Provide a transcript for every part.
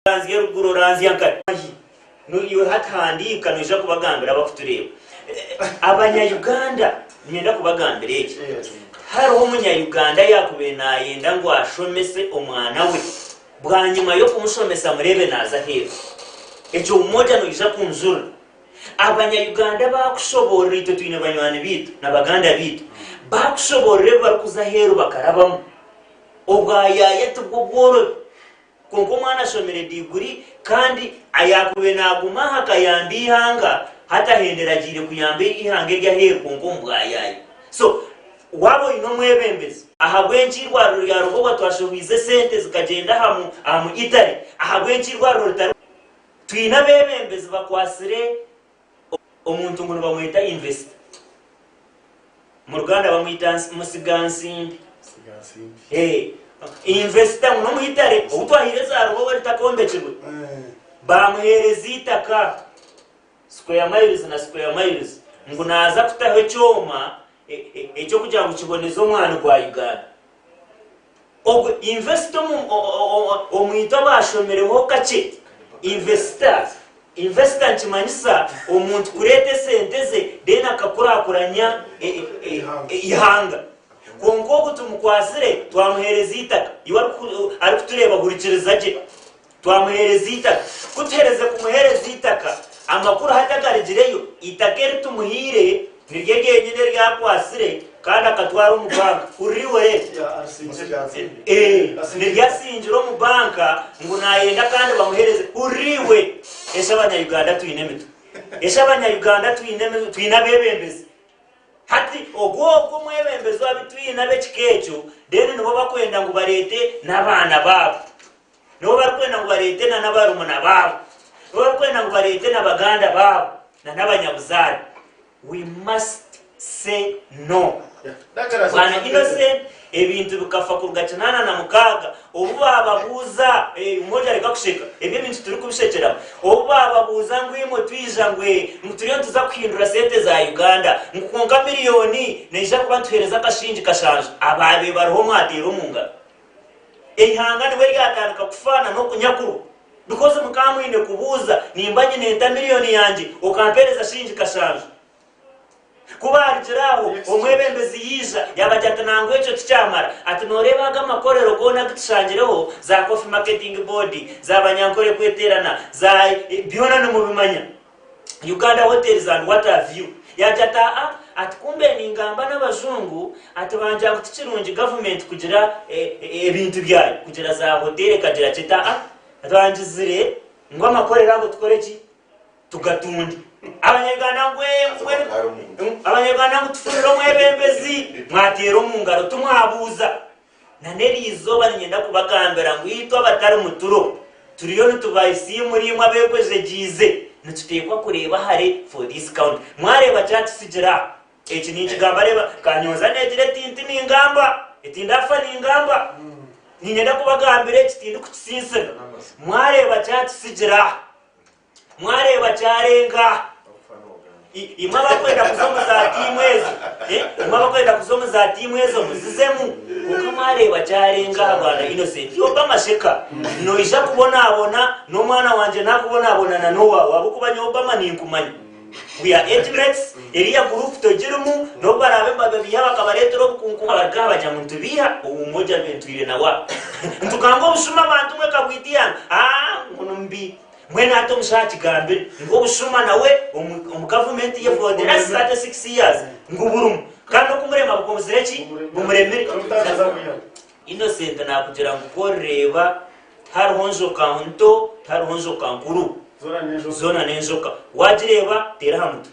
Oranzya eruguru oranzya nkari ahi noiwe hati handiika noija kubagambira abakutureeba abanya Uganda ninyenda kubagambira eki hariho omunya Uganda ayakubire nayenda ngu ashomese omwana we bwanyima yokumushomesa mureebe naza aheeru ekyo umoja noija kunjurira abanya Uganda bakushoborora itwe twine banywani baitu na baganda baitu bakushoborora ebibarikuza aheeru bakarabamu obwa yaya tibwo bworobi Kwonka omwana ashomire diguri kandi ayaakubaire naaguma aha kayambe eihanga hati ahendera agiire kuyamba eihanga eryaheeru kwonka omu bwayaayi. So waaba oine omwebembezi. Ahabw'enki eirwariro rya Rubowa twashehwize esente zikagyenda aha mu Italy? Ahabw'enki eirwariro ritari. Twine abeebembezi bakwatsire Omuntu ngu nibamweta investor. Mu Ruganda bamwita musiga nsimbi. Investor ngu n'omwitare ou twahaire za Ruhoho ritaka ombekirwe. Baamuheereza eitaka square miles na square miles ngu naaza kutaho ekyoma eky'okugira ngu kiboneze omwani gwa Uganda. Ogu, invest omu, o, o, o, o, omuitwe abaashomereho kakye. Investor, investor nikimanyisa omuntu kureeta esente ze then akakurakuranya e, e, e, Eihanga. eihanga. Kwonka ogu tumukwatsire, twamuheereza eitaka. Iwe arikuku- arikutureeba hurikiriza gye. Twamuheereza eitaka. Ku tuheerize kumuheereza eitaka, amakuru hati agarigireyo, eitaka eri tumuhaire niryo ryenyine eri akwatsire kandi akatwara omu banka. Hurira eihoro eryo. Niryo atsingire omu banka ngu naayenda kandi bamuheereze. Hurira iwe! Esha Abanyayuganda twine emitwe? Esha Abanyayuganda twine abeebembezi? Hati ogwo ogwo omwebembezi ou twine ab'ekika ekyo, reero nibo barikwenda ngu bareete n'abaana baabo. nabo barikwenda ngu bareete na nabarumuna baabo, nabo barikwenda ngu bareete na baganda baabo na nabanyabuzaare. We must say no. Bwana Innocent ebintu bikafa kuruga kinaana na mukaaga obu baababuuza, eh, omwojo areka kusheka, ebi ebintu turikubishekeramu, obu baababuuza ngu imwe twija ngu eh, ngu turiyo nituza kuhindura sente za Uganda, ngu kwonka miliyooni neija kuba nituheereza akashingi kashanju, abaabe bariho mwateera omu ngaro. Eihanga nibwo ryatandika kufa na n'oku nyakuru bikozi muka mwine kubuuza nimba nyine nta million yangye okampereza shilingi kashanju? Ku baarugire aho omwebembezi yaija yabagira ati nangwa ekyo tikyamara ati noreeba aga amakorero goona agu tushangireho za Coffee Marketing Board, za Banyankore Kweterana, za byona nimubimanya. Uganda Hotels and Water View yaagira ati, Aa ati kumbe ningamba n'abajungu ati baagira ngu tikirungi gavumenti kugira ebintu byayo, kugira za hoteeri ekagira ki? Eti, Aa twangizire ngu amakorero ago tukore ki? Tugatunge. Abanyarwanda ngu ee, Abanyarwanda ngu tufunire omwebembezi, mwateera omu ngaro timwabuuza. Na n'eri izooba niinyenda kubagambira ngu itwe abatari mu Turo turiyo nitubaayisa imwe ri imwe abeekwejegyiize, nituteekwa kureeba hare for this count. Mwareeba kyatutsigira aha eki ninkigamba, reeba, ka nyonza neegira eti, nti ningamba, eti ndaafa ningamba. Niinyenda kubagambira eki tindikukitsinsira. Mwareeba kyatutsigira aha. Mwareeba kyarenga? I- Imwe abakwenda kuza omu za tiimu ezo, eh, imwe abakwenda kuza omu za tiimu ezo muzizemu. Kwonka mwareeba kyarenga aha bwana Innocent Obama Sheka. Noija kubonabona n'omwana wangye nakubonabona na n'owaawe ahabw'okuba nyowe Obama ninkumanya. We are age mates, eriya group togirimu, n'obu baraabe nibababiiha bakabareetera obukunku bagaruka aha bagya ngu nitubiiha, owu moja ventwire na wa. Nitugamba obushuma abantu mwe kabwitiana, ah, ngu nimubi. Mbwenu ati omushaho akigambire ngu obushuma nawe omu omu gavumenti ye for the last 36 years ngu burimu kandi okumurema bukomuzire ki? Bumuremire. Innocent nakugira ngu ku orireeba tihariho njoka nto tihariho njoka nkuru zoona n'enjoka. Waagireeba teera aha mutwe.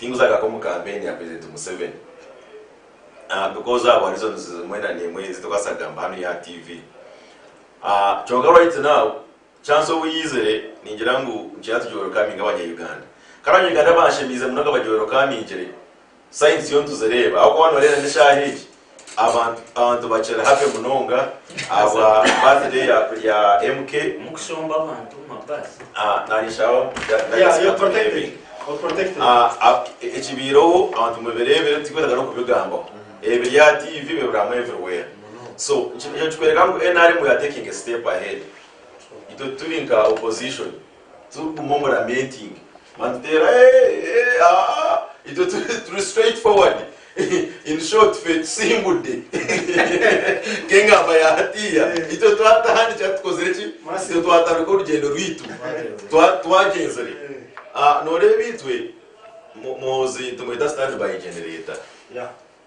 Tinguza gaka omu kampeni ya President Museveni ahh because ahabwa reasons emwe na nemwe ezitukubaasa kugamba hanu ya TV ahh kyonka right now chance obu yaizire ningira ngu nikira tugi welcoming abanya Uganda kandi abanya Uganda banshemiize munonga bagi welcomingire signs yoona tuzireeba ahabw'okuba waaba noreeba n'eshaaha egi Abantu bakira happy munonga ahabwa birthday ya MK. Mukushomba abantu ma bus. Ekibaireho abantu mubireebire tikwetaaga nokubigambaho ebiri aha TV bibirwamu everywhere so nikyo nikikwereka ngu nrm we are taking a step ahead itwe turi nka opposition Turikuguma omu lamenting mani tuteera eeh eeh aah itwe turi straight forward in short fe tusimbudde nk'engamba ya hatiiya itwe twatahandikira tukozire ki itwe twatandika orugyendo rwaitu twagyenzire aah noreeba itwe muhoozi nitumweta sitaani by genereta.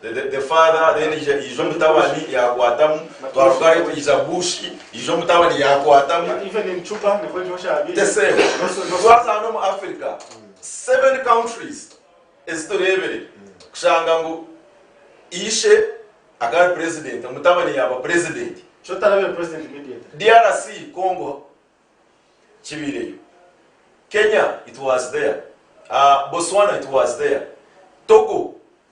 The father then ija ija omutabani yakwatamu twaruga aho ija bush ija omutabani yakwatamu the same twaza hanu omu africa seven countries eziturebire kushanga ngu ishe akaba ari president omutabani yaba president drc congo kibireyo kenya it was there uh, botswana it was there togo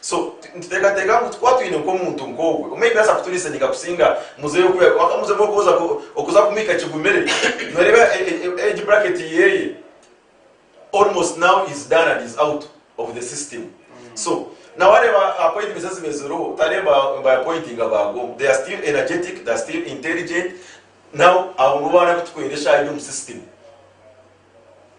So nituteekateeka ngu twaba twine nk'omuntu nk'ogwo, omwe aidiraasa kuturisaniika kusinga muzeeyi oku yaaba akamuzemu okwoza okuza kumwika kigumire. Nooreeba age bracket yeeye almost now is done and is out of the system. So na waareeba appointments eziba eziriho otareeba ngu ba appointinga baagoma. They are still energetic, they are still intelligent. Now abo nibo baana abu twiine eshaaha egi omu system.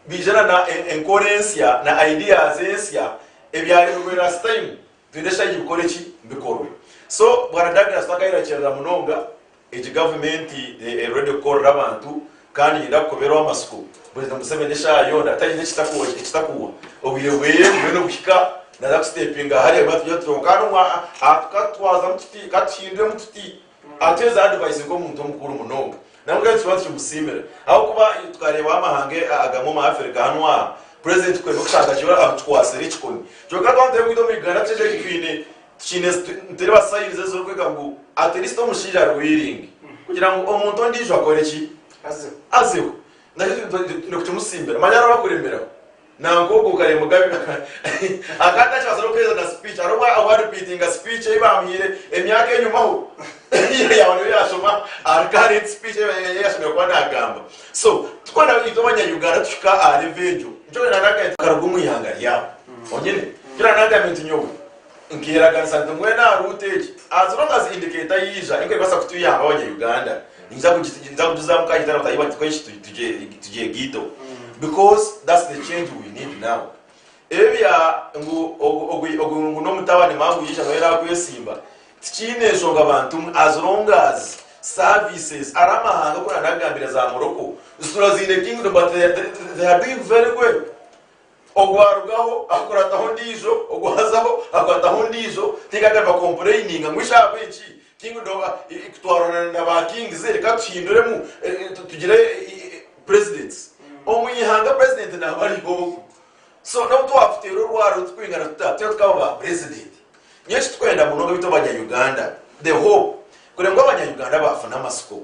biijana na enkora ensya na ideas ensya ebyarehwa last time twine eshagye bikore ki bikorwe so bwana Douglas twakayerakyerera munonga egi government eri ready kukorera abantu kandi neyenda kukoberwa amatsiko president Museveni eshaaha yoona atayine ekitakuwa obwire bweye buriyo nibuhika naza ku stepinga hare bwatugye tuti katuhinduremu tuti Ati, Ezi advice nk'omuntu omukuru munonga nabwe reka tubanze tumusiimire ahabw'okuba twareebaho amahanga agamwe omu Afirika hanu aha purezidenti kwenda okushanga gye amutukwatsire ekikoni kyonka abantu abu itwe omu Uganda tushemeriire kugira twine tikiine nitureba sayinizi ezirikwega ngu atilisti omushaija ari wiringi kugira ngu omuntu ondiijo akore ki? Azeho. Azeho. Naki twine kukimusiimira manya araabe akuremeraho. Nanku ogwo kare Mugabe akaba atakibaasa n'okuheereza na speech hariho obwo obwa repeatinga speech ei baamuhaire emyaka enyomaho yaaba niyo yaashoma aha current speech ei ei yaashemereire kuba naagamba. So twena itwe abanya-Uganda tushika aha level egyo nikyo nyowe naagambire nti tukaruga omu ihanga ryabo honyine. Nikyo naagambire nti nyowe. Nkeraganisa nti mbwenu aha ruuto egi haazire omubazi indicator yaija erikubaasa kutuyamba abanya-Uganda, ninza kugijuzaamu ka nyeta na bataahi bangye tweshushye tugye ghetto because that's the change we need now. Ebi bya ngu ogu ngu n'omutabani mara ngu yaija nawe yaakwesimba tikiine nshonga bantu mwe as long as services ari amahanga oku naanagambire za Morocco zituraziine kingdom but they are doing very well. Ogu arugaho akurataho ondiijo, ogu azaho akwataho ondiijo, tinkagire ba complaininga ngu eish ahabw'enki kingdom kutwarana na ba kings reka tuhinduremu tugire presidents. Omu ihanga president naaba ari ogu. So n'obu twakuteera orwaro turikwingana tuta twena tukaba ba president. Nyowe eki turikwenda munonga beitu abanya Uganda the hope kureba ngu abanya Uganda baafuna amasiko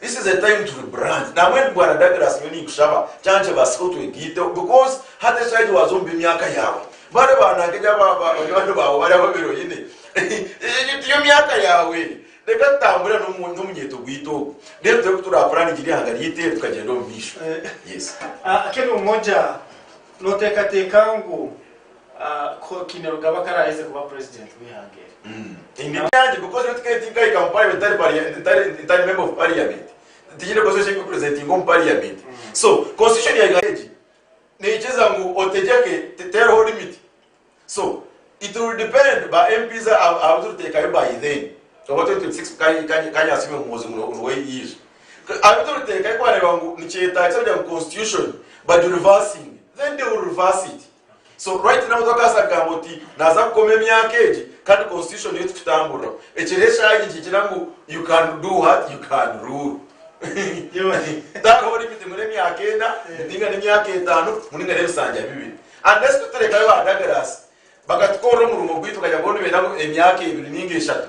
This is a time to rebrand nambwa endi bwana Douglas nyowe ninkushaba kyankye basika otwegaiteho because hati ekiragira waza omu by'emyaka yaawe bari ba nanka egi aba ba banywani baawe bari ababiri oyine egi tiyo myaka yaawe egi reka tutambure n'omu n'omunyeto gwaitu ogu then turebe ku turapuraningira ihanga ryaitu eri tukagyenda omu maisho yes. Kemi Umoja, Nooteekateeka ngu Kainerugaba akaraheze kuba president w'eihanga eri. So right now twakabaasa kugamba oti naaza kukoma emyaka egi kandi constitution niyo erikutamburiraho. Ekiriho eshaaha egi nikigira ngu you can do what? You can rule. Tariho limit ngu n'emyaka ena, ninga n'emyaka etaano, ngu ninga n'ebisanja bibiri. Unless tuteekayo ba Douglas bakatukoorera omurimo gwaitu bakagira ngu boona nibeenda ngu emyaka ebiri ninga eshatu.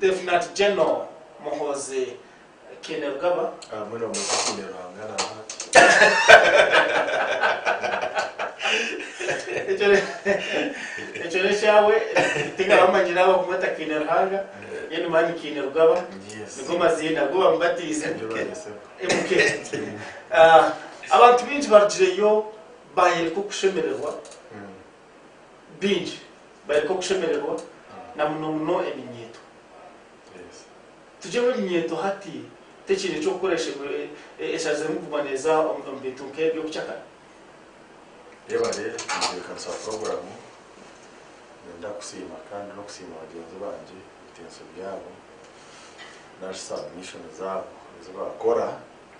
Lieutenant General Muhoozi Kainerugaba. Abamwe nibamweta Kainerwanga na Ekyo n'ekyabwe tingaba manyire abo okumweta Kainerwanga Gen Mani Kainerugaba nigo maziina agu bamubatiise MK. Abantu baingi barugireyo baayereka okushemererwa. baingi bareke okushemererwa, na muno muno eminyeeto. Tugyeho eminyeeto hati tekiine eky'okukora eshaza erimu kuguma neeza omu bintu nk'eby'obucakara. Reeba reero enteekateekanisa puroguraamu. Niinyenda kusiima kandi n'okusiima bagyenzi bangye ebitensyo byabo nari submission zaabo ezi baakora.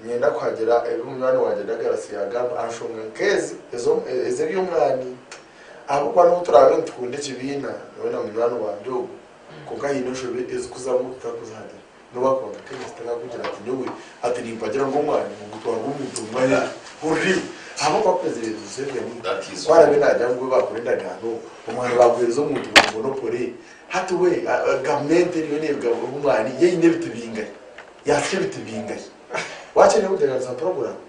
Niinyenda kuhagira ebi munywani wangye Douglas yaagamba aha nshonga nk'ezi ez'eby'omwani. Ahabw'okuba n'obu turaabe nitukunda ekibiina, nyowe na munywani wangye ogu, kwonka haine enshobi ezikuzamu tutakuzihagira. N'obu akuba Mukristo, takakugira ati, Nyowe hati nimpagira ngu omwani nigutwarwa omuntu omwe aha eka. Hurri! Ahabw'okuba akwezire ebi Museveni ku araabe naagira ngu bo baakora endagaano, omwani baaguheereza omuntu buri monopole. Hati we, gavumenti eriyo neeruga omu mwani, yo eine ebiti bingahi? Yaasya ebiti bingahi? Waakyayenda kugyereraniza puroguraamu?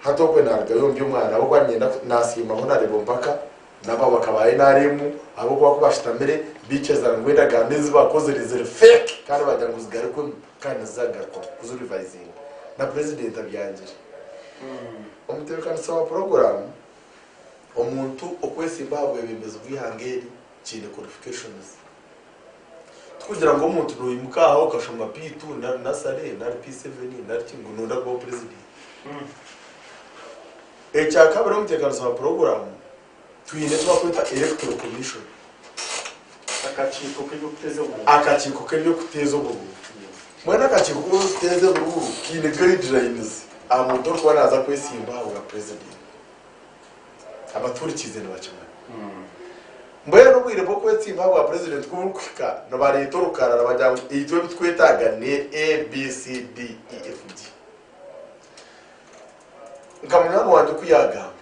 Hati okwe naarugayo ndi omwana ahabw'okuba niinyenda ku, naasiimaho naareeba empaka namba bakabaayo naarimu ahabw'okuba ku baashutamire baikiza ngu endagaano ezi baakozire ziri fake kandi baagira ngu zigarukwemu kandi nizagaruka kuzirivayizinga na purezidenti abyangire. Omutebeekanisa wa puroguraamu, Omuntu okwesimba aha bwebembezi bw'eihanga eri kiine qualifications. Tikugira ngu omuntu noyimuka aha okashoma P2 nari Nursery nari P7 nari ki ngu noyenda kuba opurezidanti. Ekyakabiri omutekaniso wa puroguramu twine eki barikweta Electoral Commission, Akakiiko k'eby'okuteeza oburuuru. akakiiko k'eby'okuteeza oburuuru. Mbwenu akakiiko k'okuteeza oburuuru kaine guidelines aha muntu orikuba naza kwesimba aha bwa purezidanti. Abatuhurikiize nibakimanya. Mbwenu obwire bw'okwetsimbika bwa Purezidenti ku burikuhika, nibareeta orukarara bagira ngu itwe ebi twetaaga ni ABCDEFG. Nka munywani wangye ku yaagamba,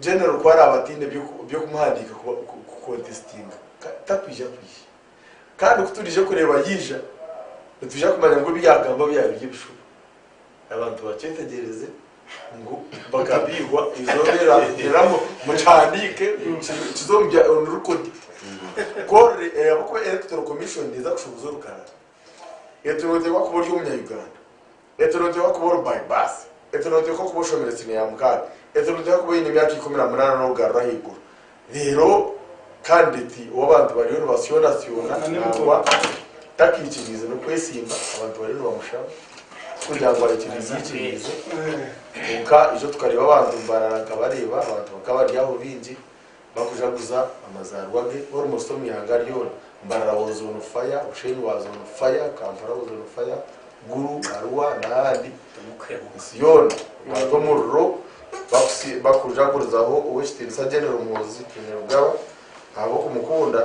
Genero ku araabe ataine by'okumuhandiika kukontesitinga, takwija kwija. Kandi ku turiija kureeba yaija, nitwija kumanya ngu ebi yaagamba byaba biri ebishuba. Abantu bakyeetegyereze ngu bakabiihwa eizooba eriragyeraho. Mukihandiike, kize omu bya onu rikodi. Korre eyabuku Electoral Commission neeza kushoboza orukarara. Etorooterwa kuba ori Omunya-Uganda. Etorooterwa kuba ori by birth. Etorooterwa kuba oshomerwe siniya ya mukaga. Etorooterwa kuba oine emyaka ikumi na munaana n'okugarura ahaiguru. Reero kandideti ow'abantu bariyo nibasyoonasyona nangwa takaikiriize n'okwesimba, abantu bariyo nibamushaba kugira ngu aikiriize aikiriize. Kwonka itwe tukareeba abantu nibarara nka bareeba, abantu bakaba bari aho baingi bakujaguza amazaarwa ge almost omu ihanga ryoona. Mbarara was on fire, Bushenyi was on fire, Kampala was on fire, Gulu, Arua n'ahandi. Ensi yoona ebanza omuriro bakujagurizaho Ow'ekitiinisa General Muhoozi Kainerugaba ahabw'okumukunda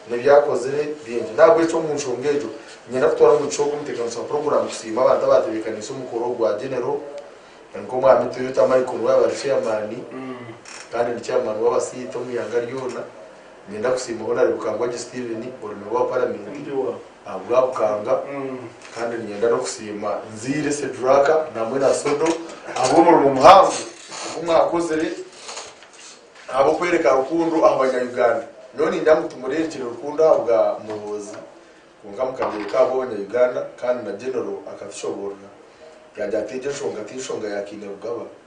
n'ebi akozire bingi. N'ahabw'ekyo omu nshonga egyo, niinyenda kutwara omugisha ogu omuteekakanisa wa puroguraamu kusiima abantu abaatebeekaniise omukoro ogwa General nk'Omwami Toyota Michael Nwaaba ari Chairman kandi ni Chairman w'abasiita omu ihanga ryona. Niinyenda kusiima Honarebo Kangwagi Steven, orume rwa Paramenti, ahabw'abukanga, kandi niinyenda n'okusiima Nziire Sedraka namwe na Sodo ahabw'omurimo muhango ogu mwakozire ahabw'okwereka rukundo aha Banyayuganda. Nyowe niinyenda ngu tumureerekye rukundo ahabwa Muhoozi kwonka mukabyereka ahabw'Abanyayuganda kandi na Genero akatushoboorora yaagira ati egyo enshonga ti nshonga ya Kainerugaba.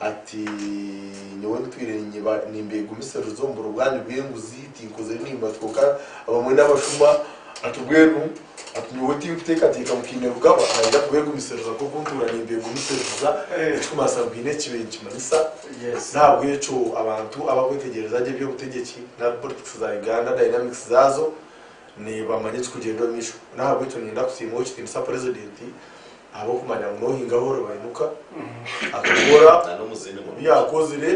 Ati, Nyowe ntwire nimbegumisiriza omu burobwani bw'enguzi, tinkozire nimba kwonka abamwe n'abashuma. Ati, Mbwenu ati nyowe tinkuteekateeka ngu haine Rugaba naija kubegumisiriza nk'oku ntuura nimbegumisiriza, ekirikumanisa ngu haine eki ninkimanyisa. N'ahabw'ekyo abantu abakwetegyereza gye eby'obutegyeki nari politics za Uganda, dynamics zaazo, nibamanya ekirikugyenda omu maisho. N'ahabw'ekyo niinyenda kusiima Ow'ekitiinisa Purezidenti. Ahabw'okumanya ngu n'ohinga ahu oribainuka akakora obu yaakozire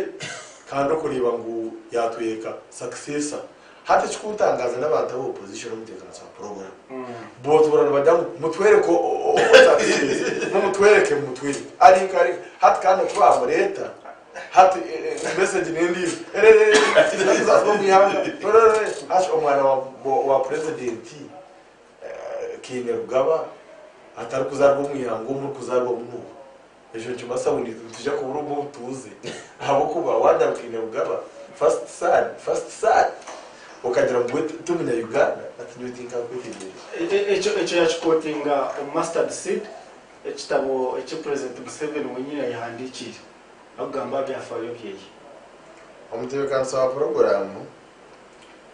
kandi okureeba ngu yaatweka sakiseesa. Hati ekikuntangaza n'abantu aba opozishoni omu nteekaaniso ya puroguramu. Bootoorora nibagira ngu mutwereke owa sakiseesa, mumutwereke, mumutwereke. Ari nka ari. Hati kandi oku baamureeta, hati mesegi n'endiijo, Erererere! Sakiseesa z'omu ihanga! Erererere! Omwana wa purezidenti Kainerugaba atari kuzaarwa omu ihanga omuri kuzaarwamu nuuha? Ekyo nikibaasa ngu nitwija kubura omu obutuuze ahabw'okuba waagamba Kainerugaba, first son, first son, okagira ngu we ti munya Uganda, hati nyowe tinkakwetegyereza. Ekyo ekyo yakikotinga omu Mustard Seed, ekitabo eki Purezidenti Museveni wenyini ayehandiikiire arikugamba aha byafaayo byeye. Omutebeekanisa wa puroguraamu.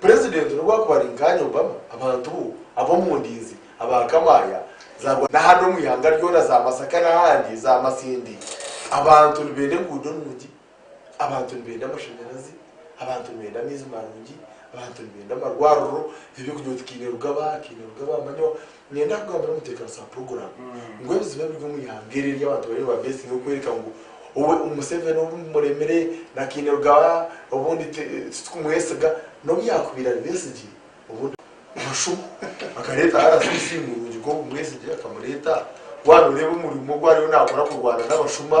Purezidenti n'obu akuba ari nkanye Obama, abantu bo ab'omu ndinzi, aba Kamaya, za Rwanda n'ahandi omu ihanga ryona, za Masaka n'ahandi, za Masindi, abantu nibenda enguudo nungi, abantu nibenda amashanyarazi, abantu nibenda amaizi marungi, abantu nibenda amarwariro, eby'okurya obu tikaine ruga ba, kaine ruga ba manyiwa, Niinyenda kugambira omuteekanisa wa puroguraamu ngu ebizibu ebiri omu ihanga eri ery'abantu bariyo nibabeesinga okworeka ngu owe Museveni obu bimuremire na Kainerugaba obundi ti titukumwesiga n'obu yaakubaire ari Besigye obundi Omushumo akareeta RCC murungi nk'ogu Mwesigye akamureeta waaba nooreeba omurimo ogu ariyo naakora kurwana n'abashuma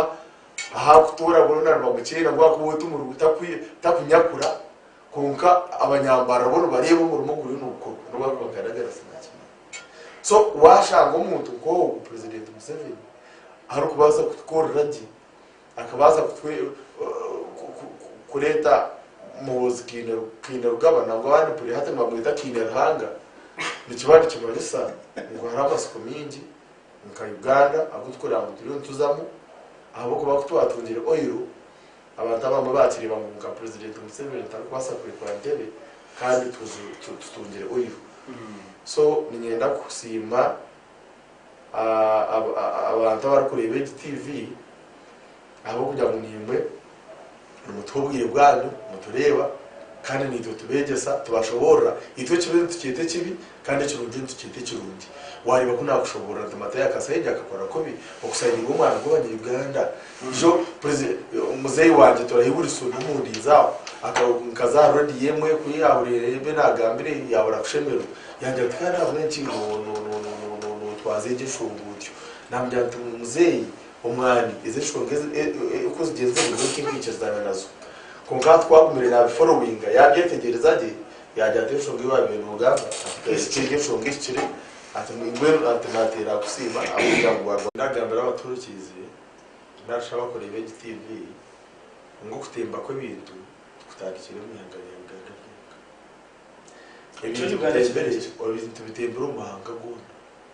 ahaakutoora boona nibamukyera ahabw'akuba owe timuri taku takunyakura Kwonka abanyambarara bo nibareeba omurimo oguriyo nigukorwa n'owaabaire Bagandagara sinaakimanya. So waashanga omuntu nk'ogwo Purezidenti Museveni arikubaasa kutukorera gye, akabaasa kureeta Muhoozi Kainerugaba nangwa abandi mpurira hati nibamweta Kaineruhanga, nikiba nikimanyisa ngu hariho amatsiko maingi nka Uganda agu turikureba ngu turiyo nituzamu ahabw'okuba ku twatungire oil Abantu abamwe baakireeba ngu nka Purezidenti Museveni ntarikubaasa kurekura ntebe kandi tutungire oil. So niinyenda kusiima abantu abarikureeba egi TV ahabw'okugira ngu naimwe nimutuha obwire bwanyu, mutureeba kandi naitwe tubeegyesa, tubashoboorora. Itwe ekibi nitukyeta ekibi Kandi ekirungi nitukyeta ekirungi. Wareeba ku nakushoborora nti Matayo akasaija akakora kubi okusainirwa omwana gwabanya Uganda. Ijo muzeyi wangye torahi Wilson omundinzi aho nkaza aha radio emwe ku yahurire ebyo nagambire yabura kushemerwa yangira nti kandi ahabwenki notwaza egyo enshonga otyo. Namugira nti muzeyi omwani ezo enshonga kuzigye nzemu nyowe tinkwikirizaana nazo. Konka hati ku agumire nabi followinga yabyetegyereza gye. Yaagira ati, Enshonga ei baabaire nibagamba ehikire, enshonga ehikire. Ati, Mbwenu ati naateera aha kusiima ahabw'okugira ngu waagwa. Naagambira abatuhurikiize nari shi abakureeba egi TV egi ngu okutemba kw'ebintu tikutandikire omu ihanga rya Uganda ryonka. Ebintu bitembire, ebintu bitembire omu mahanga goona.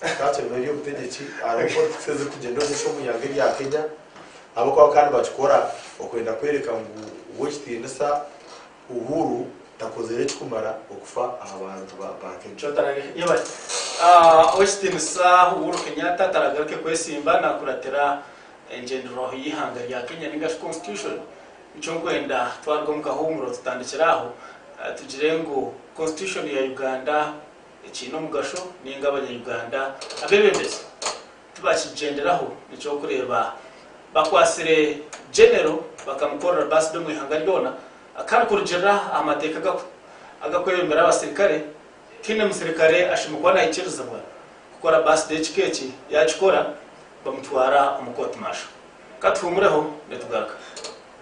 Twaakira ngu eby'obutegyeki hariho politics ezirikugyenda omu maisho omu ihanga erya Kenya ahabw'okuba bakaba nibakikora okwenda kworeka ngu ow'ekitiinisa Uhuru takozire ekirikumara okufa aha bantu ba Kenya. Ow'ekitiinisa Uhuru Kenyatta taragaruke kwesimba naakuratira engyenderwaho y'eihanga rya Kenya nainga shi Constitution. Nikyo nkwenda twaruga omu kahuumuro tutandikire aho tugire ngu Constitution ya Uganda Ekiine omugasho ninga abanyayuganda abebembezi tibakigyenderaho nekyokureeba bakwatsire Genero bakamukorera baside omu ihanga ryoona kandi kurugirira aha mateeka agakwebembera abasirikare tihaine musirikare ashemereire kuba nahikirizibwa kukora baside ekika eki yakikora bamutwara omu kooti maasho. Katuhumureho nitugaruka.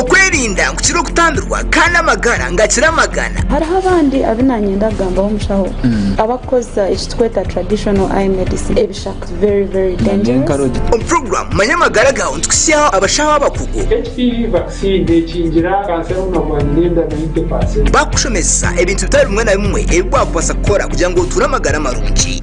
Okwerinda nkukira okutambirwa kandi amagara ngakira amagana. Hariho abandi abu nanyenda kugambaho mushaho abakukozesa eki tukweta traditional eye medicine ebishaka very very dangerous. Omu program manya amagara gawe nitukuhihaho abashaho abakugu. HPV vaccine nekingira kanseri omu mabwa n'enda 90%. Bakushomesesa ebintu bitari bimwe na bimwe ebi wakubaasa kukora kugira ngu otuure amagara marungi.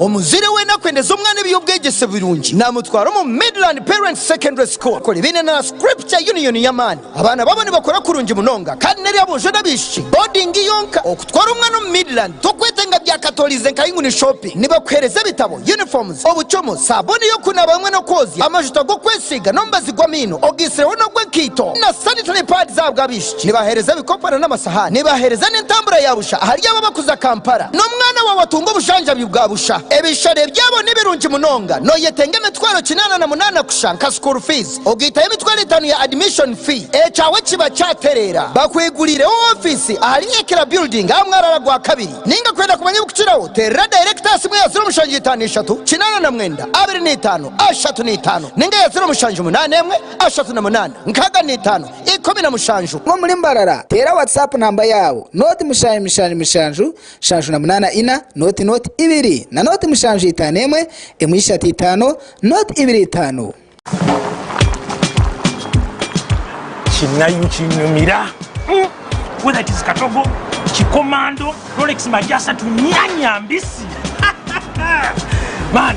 Omuzaire weena akwendeza omwana eby'obwegyese birungi, naamutwara omu Midland Parents Secondary School kukora ebiine na Scripture Union y'amaani. Abaana baabo nibakora kurungi munonga kandi n'eri aboojo n'abaishiki. Boodingi yonka. Okutwara omwana omu Midland tokweteenga byakatooriize nka yinguni shopping. Nibakuheereza ebitabo, uniforms, obucumu, saabuuni y'okunaaba hamwe n'okwozya, amajuta g'okwesiiga n'omubazi gw'amaino, ogaisireho n'ogw'enkaito na sanitary pads ahabw'abaishiki. Nibaheereza ebikopo na n'amasahaani. Nibaheereza n'entambura ya busha ahari abo abakuza Kampala. N'omwana waawe atunga obujanjabi bwa busha. Ebishare byabo ni birungi munonga. Noyetenga emitwaro kinaana na munaana kusha nka school fees. Ogaitaho emitwaro etaano ya admission fee. Ekyawe kiba kyatereera. Bakweguliireho ofiisi ahari Ekira Building aha mwaraara gwa kabiri. Ninga kwenda kumanya ebikukiraho, teerera director aha simu ya ziro mushanju itaano ishatu, kinaana na mwenda, abiri na itaano, ashatu na itaano. Ninga ya ziro mushanju munaana emwe, ashatu na munaana, nkaaga na itaano. ikumi na mushanju. Guma omuri mbarara, teera WhatsApp namba yaawe, nooti mushanju mushanju mushanju shanju na munaana ina, nooti nooti ibiri na nooti mushanju itaano emwe emwe ishatu itaano, nooti ibiri itaano. Kinayu kinyumira mm whether it is katogo, kikomando, rolex magyasatu, nyanya mbisi man.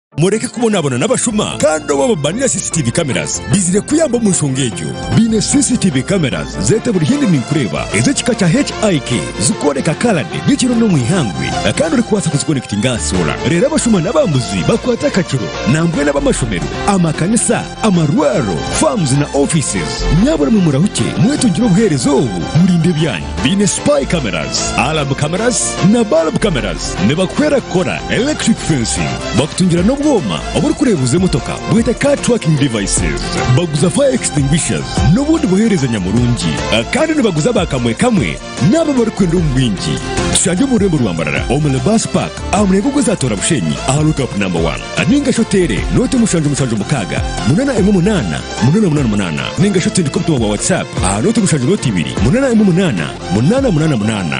Mureke kubonabona n'abashuma kandi obu ababaine na CCTV cameras baizire kuyamba omu nshonga egyo. Baine CCTV cameras zete buri haihi ninkureeba ez'ekika kya HIK zikworeka kalade nyekiro n'omu ihangwe kandi orikubaasa kuzikonekitinga aha soora reero abashuma n'abambuzi bakwate akakiro nambwenu ab'amashomero, amakanisa, amarwariro, farms na offices. Nyaabura mwe murahukye mwetungire obuheereza obu murinde ebyanyu. Baine Spy Cameras, Alarm Cameras na Bulb Cameras. Nibakuhwera kukora electric fencing. Bakutungira n'obwoma oburikureebuza emotoka bwete Car Tracking Devices. Baguza Fire Extinguishers n'obundi buheereza nyamurungi. Kandi nibaguza ba kamwe kamwe n'abo abarikwenda omu bwingi. Tushange omu rurembo rwa Mbarara omu Lebas Park aha murengo gw'ezatoora Bushenyi aha Lookup No. Ninga shi oteere nooti mushanju mushanju mukaaga, munana emwe munana, munana munana munana, ninga shi otsindike obutumwa bwa WhatsApp aha nooti mushanju nooti ibiri, munana emwe munana, munana munana munana.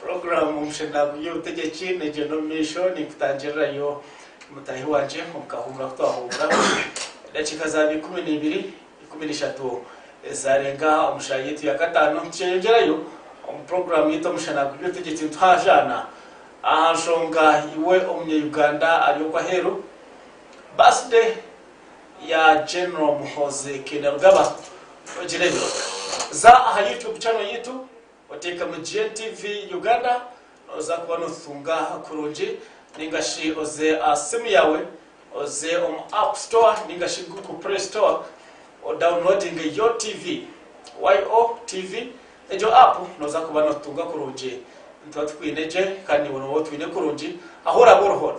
Puroguraamu Omusheruraguzi y'Obutegyeki neegyenda omu maisho. Ninkutangirirayo mutaahi wangye omu kahuumuro aku twahuumuramu edakiika zaaba ikumi na ibiri, ikumi na ishatu ezaarenga omu shaaha yaitu ya kataano. Nikyeyongyerayo omu puroguraamu yaitu Omusheruraguzi y'Obutegyeki nituhaahaana aha nshonga Iwe Omunyauganda Ari Oku Aheeru? Birthday ya General Muhoozi Kainerugaba ogireebe. Za aha YouTube channel yaitu oteekemu GNTV Uganda nooza kuba nootutunga kurungi nainga shi oze aha simu yaawe oze omu App Store nainga shi Google Play Store odawuniloodinge YOTV, YOTV, egyo app nooza kuba nootutunga kurungi. Nituba tukwine gye kandi niiwe nooba otwine kurungi ahu oraabe ori hoona.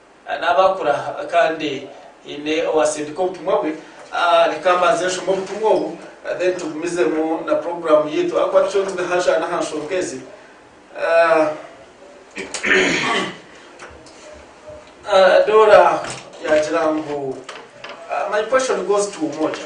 Naaba akura kandi haine owaatsindika obutumwa bwe, reka mbanze nshome obutumwa obu then tugumizemu na puroguraamu yaitu ahakuba tucwire turi aha njwara n'aha nshonga ezi. Dora yaagira ngu, My question goes to Umoja.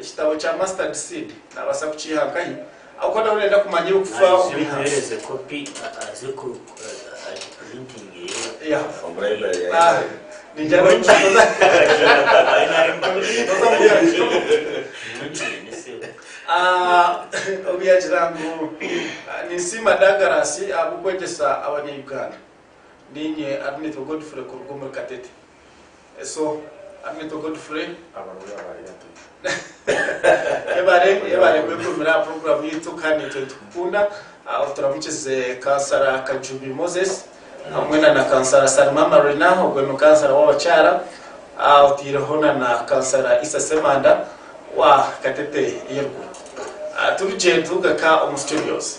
Ekitabo kya Mustard Seed naabaasa kukiiha nkahi ahabw'okuba nyowe ndenda kumanya ebi kufa omuheereze kopi aze ku agipurintinge Ninsiima Dagaraasi ahabw'okwegyesa Abanya-Uganda. Niinye Arinetwa Godfrey kuruga omuri Katete. Eso amitwe Godfrey. Abaroori abaayi ati. Yebare yebare kwekumira aha program yaitu kandi naitwe nitukukunda. Ah, Oturamukize kansara Kajubi Moses hamwe na na kansara Salima Marina ogwe ni kansara w'abakyara. Ah, Otaireho na na kansara Isa Semanda wa Katete Irgwe. Ah, Turugye turuga ka omu studios.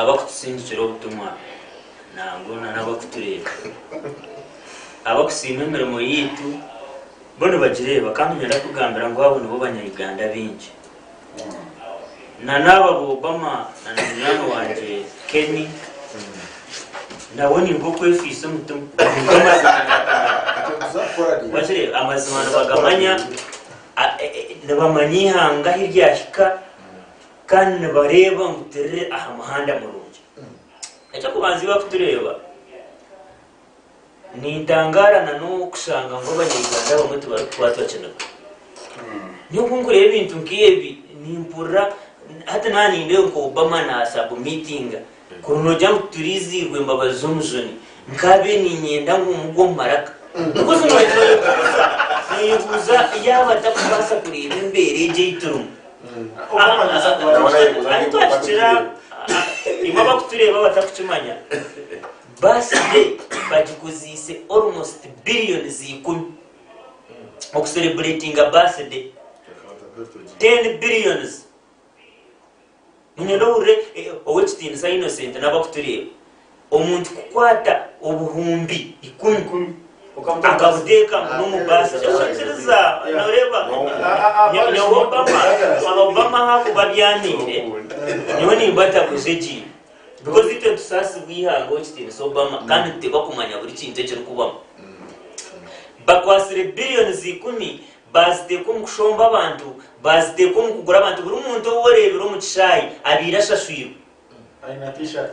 abakutusindikira obutumwa nangwa nana abakutureeba abakusiima emirimo yaitu bo nibagireeba kandi ninyenda kugambira ngu abo nibo banya Uganda baingi nana aba Obama nana munywani wangye Kenny nabo ninka okwefiisa omutima wakireeba amazima nibagamanya nibamanya eihanga ahu ryahika kandi nibareeba ngu turi aha muhanda murungi. Eky'okubanza ei barikutureeba, nintangaara na n'obu kushanga ngu Abanya-Uganda abamwe tibarikukwatwa kiniga. Nyowe ku ndikureeba ebintu nk'ebi nimpurira, hati naaba nindeeba ngu Obama naasubmitinga Kunu nogira ngu turiziirwa embabazi z'omujuni nkabe ninyenda ngu mugwe omu maraka because noyebuuza noyebuuza yaaba atakubaasa kureeba embeera egi ei turimu ahu twahikira imwe abakutureeba batakukimanya bus day bagikoziise almost billions ikumi oku celebratinga bus day ten billions Niinyenda ohurire Ow'ekitiinisa Innocent n'abarikutureeba. Omuntu kukwata obuhumbi ikumi akabuteeka ngu n'omu baasi. Okiikiriza? Nooreeba? Nyowe Obama, Obama ahakuba abyamiire, nyowe nimba ntaguza egi. Because itwe nitusaasibwa eihanga, Ow'ekitiinisa Obama, kandi nituteekwa kumanya buri kintu ekirikubamu. Bakwatsire billions ikumi Baaziteeka omu kushomba abantu, baaziteeka omu kugura abantu. Buri muntu ou oreebire omu kishaayi abaire ashashwirwe.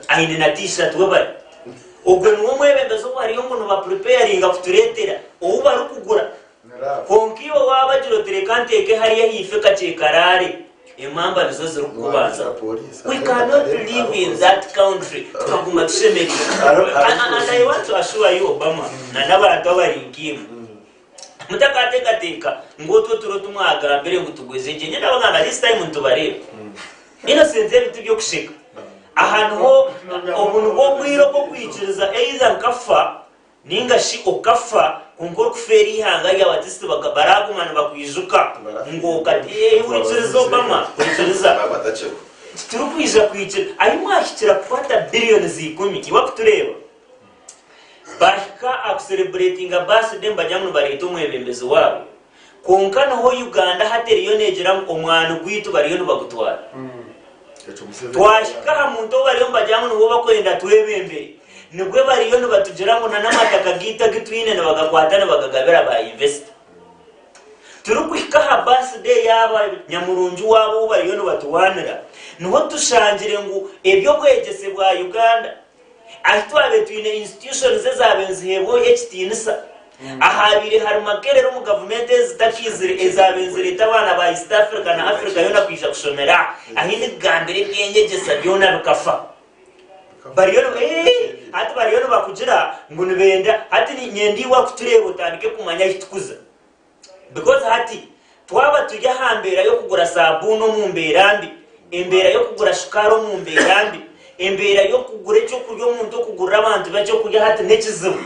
Aine na T-shirt. Webare. Ogwo niwe mwebembezi ou bariyo ngu nibapreparinga kutureetera, ou barikugura. Kwonka iwe waabagira oti, Reka nteeke hariya haife kakye karaare, emamba nizo zirikukubanza. We cannot live in that country tukaguma tushemereirwe. And I want to assure you Obama na n'abantu abari nk'imwe, Mutakateekateeka ngu otwo turo tu mwagambire ngu tugweze gye. Nyowe ndabagamba ngu this time nitubareeba. Innocent ebi tiby'okusheka. Aha niho, obu nibwo obwire obw'okwikiriza either nkafa nainga shi okafa kwonka orikufeera eihanga ryawe ati sti baka, baraaguma nibakwijuka ngu okati. Eeh, hurikiriza Obama, hurikiriza. Baba batakiriho. Titurikwija kwikira. Ahi mwahikira kukwata billions ikumi, iwe akutureeba, Baahika aha kuserebureetinga birthday nibagira ngu nibareeta omwebembezi waabo kwonka niho Uganda hati eriyo neegira ngu omwani gwaitu bariyo nibagutwara. Twahika aha muntu ou bariyo nibagira ngu niwe barikwenda twebembere nibwo bariyo nibatugira ngu nana amataka gaitu agu twine nibagakwata nibagagabira ba yinvesita. Turikuhika aha birthday yaaba nyamurungi waabo ou bariyo nibaturwanira niho tushangire ngu eby'obwegyese bwa Uganda, Ahi twabaire twine institutions ezaabaire niziheebwa Oyo ekitiinisa, ahaabaire hari Makerere omu gavumenti ezi zitakaizire ezaabaire nizireeta abaana ba East Africa na Africa yoona kwija kushomera ahi nikugambira eby'enyegyesa byona bikafa. Bariyo ni, ee, hati bariyo nibakugira ngu nibenda, hati niinyenda iwe akutureeba otandike kumanya ahi tukuza. Because hati twaba turi aha mbeera y'okugura saabuuni omu mbeera mbi, embeera y'okugura shukaari omu mbeera mbi, embeera y'okugura eky'okurya omuntu okugurira abantu be eky'okurya hati n'ekizibu.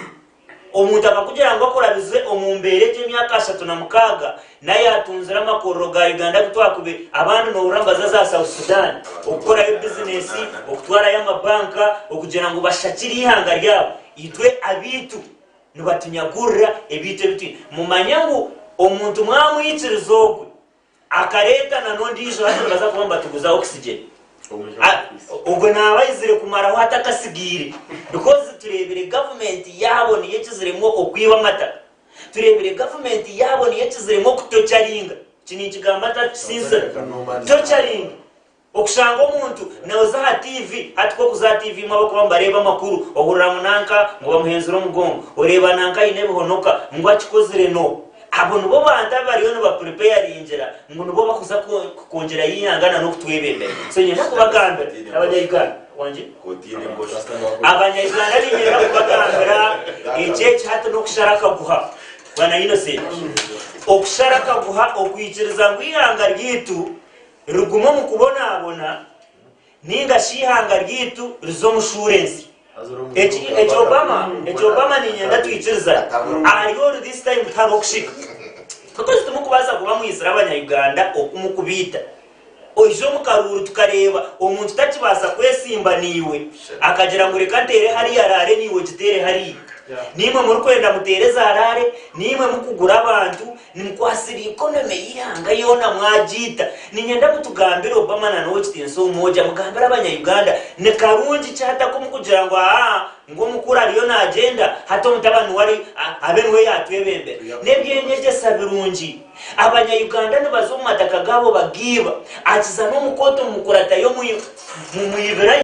Omuntu akakugira ngu akurabize omu mbeera egi emyaka ashatu na mukaaga nayo atungire amakorero ga Uganda agu twakube abandi noohurira nibaza za South Sudan okukorayo bizineesi, okutwarayo amabanka okugira ngu bashakire eihanga ryabo. Itwe abaitu. Nibatunyagurira ebintu ebi twine. Mumanye ngu omuntu mwamwikiriza ogwe akareeta na n'ondiijo hati nibaza kuba nibatuguza oxygen. Ogwe naaba ayizire kumaraho ata akasigaire? Because tureebire gavumenti yaabo niyo ekiziremu okwiba amataka. Tureebire gavumenti yaabo niyo ekiziremu okutocaringa. Eki ninkigamba ntarikusiisira. Tocaringa. Okushanga omuntu noza aha TV, hati kokuza aha TV imwe abakuba nibareeba amakuru ohurira ngu nanka ngu bamuhenzire omugongo, oreeba nanka aine ebihonoka ngu akikozire no. Abo nibo bantu abariyo niba preparingira ngu nibo bakuza kukungirayo eihanga na nokutwebembera. So ninyenda kubagambira abanya Uganda, wangi? Abanya Uganda ninyenda kubagambira eki eki hati nokushara akaguha. Bwana Innocent, okushara akaguha okwikiriza ngu eihanga ryaitu Rigume omu kubonaabona, ninga shi ihanga ryaitu rize omu shuurensi. Eki, eki Obama, eki Obama ninyenda twikirizane. Ahari oru this time tihariho kushika. Katozi timukubaasa kuba mwizire abanya-Uganda oku mukubaita. Oije omu karuuru tukareeba omuntu takibaasa kwesimba naiwe, akagira ngu reka nteere hariya raare naiwe ogiteere hariya. Naimwe murikwenda muteere za raare, naimwe mukugura abantu, Ninkwatsire eikono eme y'eihanga yoona mwagiita. Niinyenda mutugambire Obama na n'Ow'ekitiinisa Umoja, mugambire abanya-Uganda ni karungi ki hati ak'omu kugira ngu aa ngu omukuru ariyo naagyenda, hati omutabani we ari abe niwe yaatwebembera. N'eby'enyegyesa birungi. Abanya-Uganda nibaza omu mataka gaabo bagaiba, akiza n'omu kooti omu mukuratayo mu mu mwibirayo.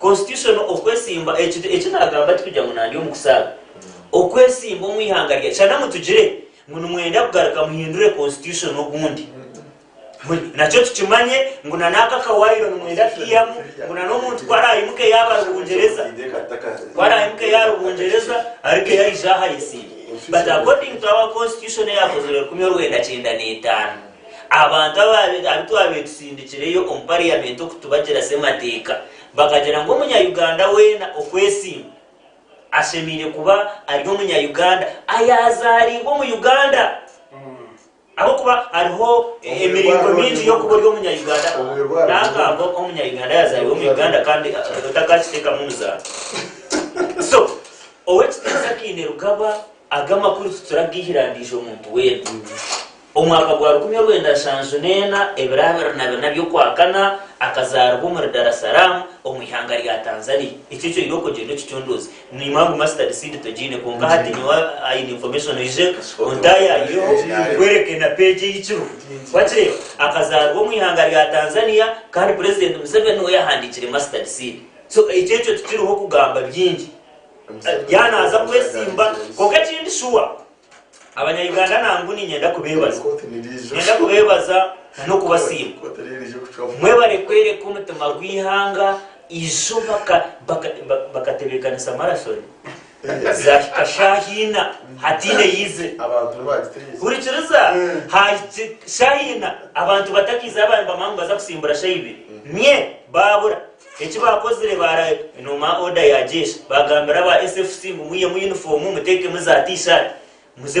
Constitution Okwesimba Ekintu eki naagamba tikugira ngu nandi omu kusaaba. Okwesimba omu ihanga rya shana ngu tugire ngu nimwenda kugaruka muhindure Constitution obundi. Huri, nakyo tukimanye ngu na n'ako akawaayiro nimwenda kukaihamu ngu na n'omuntu ku araayimuke yaaba ari Bungyereza, ku araayimuke yaari Bungyereza arikeiha aije aha ayesimbe. But according to our Constitution eyaakozirwe rukumi orwenda kyenda n'etaano, Abantu abu twaabaire tusindikireyo omu pariyamenti okutubagira Ssemateeka bakagira ngu Omunya-Uganda weena okwesimba ashemeire kuba ari Omunya-Uganda ayaazaariibwe omu Uganda ahabw'okuba hariho emiringo mingi y'okuba ori Omunya-Uganda. N'akaambo Omunya-Uganda ayaazaariibwe omu Uganda kandi otakakiteekamu muzaano. So, Ow'ekitiinisa Kainerugaba, Aga makuru tituragaihira ndiijo muntu weena. Omu mwaka gwa rukumi orwenda nshanju n'ena, ebiro abiri na bina by'okwakana, akazaaribwa omuri Dar es Salaam, omu ihanga rya Tanzania. Ekyo ekyoire okugyenda okicunduuzi. Niimwe agu mustard seed tugiine kwonka hati nyowe aine information oije ontaayaaireho nkwereke na page ei kiriho. Wakireeba? Akazaaribwa omu ihanga rya Tanzania kandi Purezidenti Museveni niwe yahandiikire mustard seed. So ekyo ekyo tikiriho kugamba bingi. Yaaba naaza kwetsimba. Kwonka ekindi shuwa Abanya-Uganda nangwa niinyenda kubeebaza. Niinyenda kubeebaza n'okubasiima. Mwebare kworeka omutima gw'eihanga izo bakatebeekanisa marasoni zaahika shaaha ina hataine eyaize. Hurikiriza, haahika shaaha ina abantu batakaizeyo abandi bamwe ngu nibaza kusimbura shaaha ibiri. Myee! Baabura. Eki baakozire baaranoma oda ya jeshi, baagambira aba SFC ngu mwihemu yunifoomu, muteekemu za T-shirt, muze